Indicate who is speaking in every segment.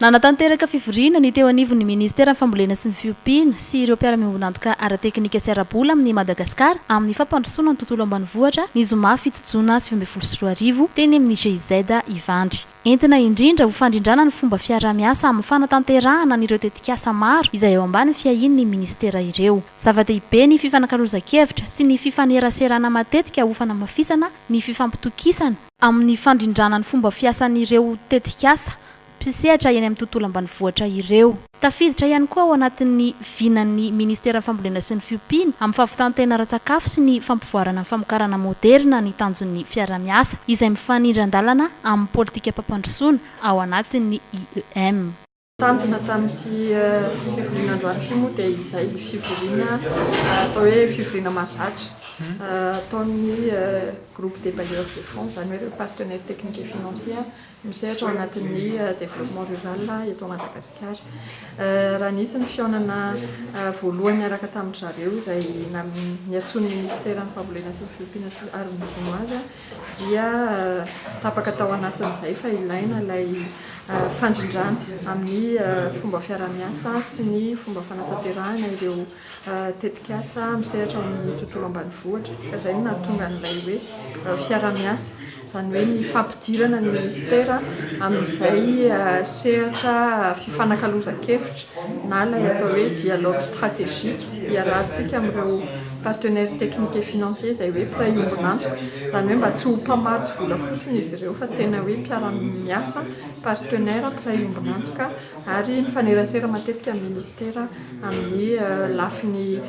Speaker 1: Nanatanteraka fivoriana ny teo anivon'ny Ministeran'ny Fambolena sy ny Fiompiana sy ireo mpiara-miombon'antoka ara-teknika sy ara-bola amin'ny Madagasikara amin'ny fampandrosoana ny tontolo ambanivohitra ny zoma fito jona sivy ambin'ny folo sy roa arivo teny amin'ny GIZ Ivandry. Entina indrindra ho fandrindrana ny fomba fiaraha-miasa amin'ny fanatanterahana an'ireo tetikasa maro izay ao ambany fiahian'ny Ministera ireo. Zava-dehibe ny fifanakalozan-kevitra sy ny fifaneraserana matetika ho fanamafisana ny fifampitokisana, amin'ny fandrindrana ny fomba fiasan'ireo tetikasa mpisehatra eny amin'ny tontolo ambanivohitra ireo. Tafiditra ihany koa ao anatin'ny vinan'ny Ministeran'ny Fambolena sy ny Fiompiana amin'ny fahavitan-tena ara-tsakafo sy ny fampivoarana ny famokarana moderina ny tanjon'ny fiaraha-miasa izay mifanindran-dalana amin'ny politikam-pampandrosoana ao anatin'ny IEM. Tanjona
Speaker 2: tamin'ity fivoriana androany ity moa dia izay fivoriana atao hoe fivoriana mahazatra ataon'ny Groupe des bailleurs de fonds, izany hoe ireo partenaires techniques et financiers misehatra ao anatin'ny développement rural eto Madagasikara. Raha nisy ny fihaonana voalohany niaraka tamin-dry zareo izay niantsoan'ny minisiteran'ny fambolena sy ny fiompiana sy ary ny jono azy dia tapaka tao anatin'izay fa ilaina ilay fandrindrana amin'ny fomba fiarahamiasa sy ny fomba fanatanterahana ireo tetikasa misehatra amin'ny tontolo ambanivohitra ka izay no nahatonga an'ilay hoe fiaraha-miasa, izany hoe ny fampidirana ny minisitera amin'izay sehatra fifanakalozan-kevitra na ilay atao hoe dialogue stratégique iarahantsika amin'ireo partenaires techniques et financiers izay hoe mpiray ombon'antoka, izany hoe mba tsy ho mpamatsy vola fotsiny izy ireo fa tena hoe mpiara-miasa, partenaires, mpiray ombon'antoka. ary mifanerasera matetika amin'ny minisitera amin'ny lafiny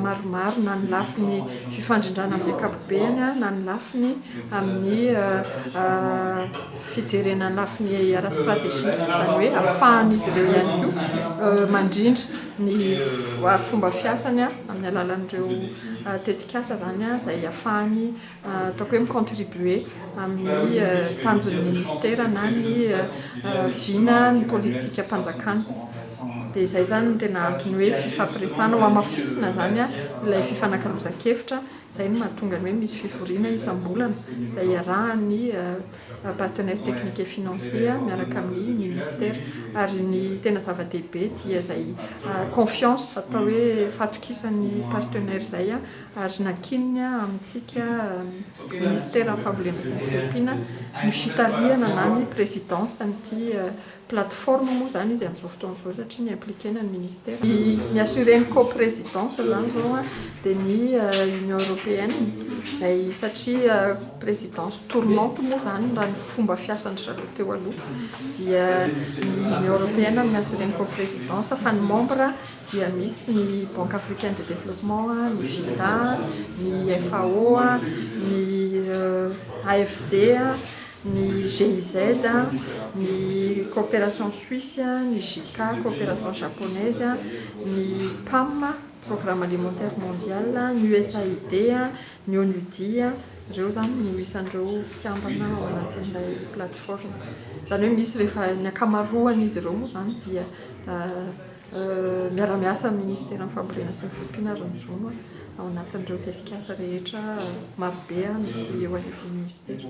Speaker 2: maromaro na ny lafiny fifandrindrana amin'ny ankapobeny na ny lafiny amin'ny fijerena ny lafiny ara-strategique izany hoe ahafahan'izy ireo ihany koa mandrindra ny fomba fiasany amin'ny alalan'ireo tetikasa izany izay ahafahany ataoko hoe mi-contribuer amin'ny tanjon'ny ministera na ny vina ny politikam-panjakana. Dia izay izany no tena antony hoe fifampiresahana, hohamafisina izany ilay fifanakalozan-kevitra, izay no mahatonga ny hoe misy fivoriana isam-bolana izay iarahan'ny partenaires techniques et financiers miaraka amin'ny ministera. Ary ny tena zava-dehibe dia izay confiance, atao hoe fatokisan'ny partenaires izay ary nankininy amintsika ny Minisiteran'ny Fambolena sy ny Fiompiana ny fitarihana na ny présidence an'ity plateforme moa izany izy amin'izao fotoana izao satria ny impliquena ny Minisitera. Ny assurer ny co-présidence izany izao dia ny Union Européenne izay satria présidence tournante moa izany raha ny fomba fiasan-dry zareo teo aloha dia ny Union Européenne no mi-assurer ny co-présidence fa ny membre dia misy ny Banque Africaine de Développement, ny FIDA, ny FAO, ny AFD, ny GIZ, ny Coopération Suisse, ny JICA, Coopération Japonaise, ny PAM, Programme Alimentaire Mondial, ny USAID, ny ONUD, ireo izany no isan'ireo mpikambana ao anatin'ilay plateforme. Izany hoe misy rehefa ny ankamaroan'izy ireo moa izany dia Miara-miasa amin'ny Ministeran'ny Fambolena sy ny Fiompiana ary ny Jono ao anatin'ireo tetikasa rehetra marobe misy eo anivon'ny Minisitera.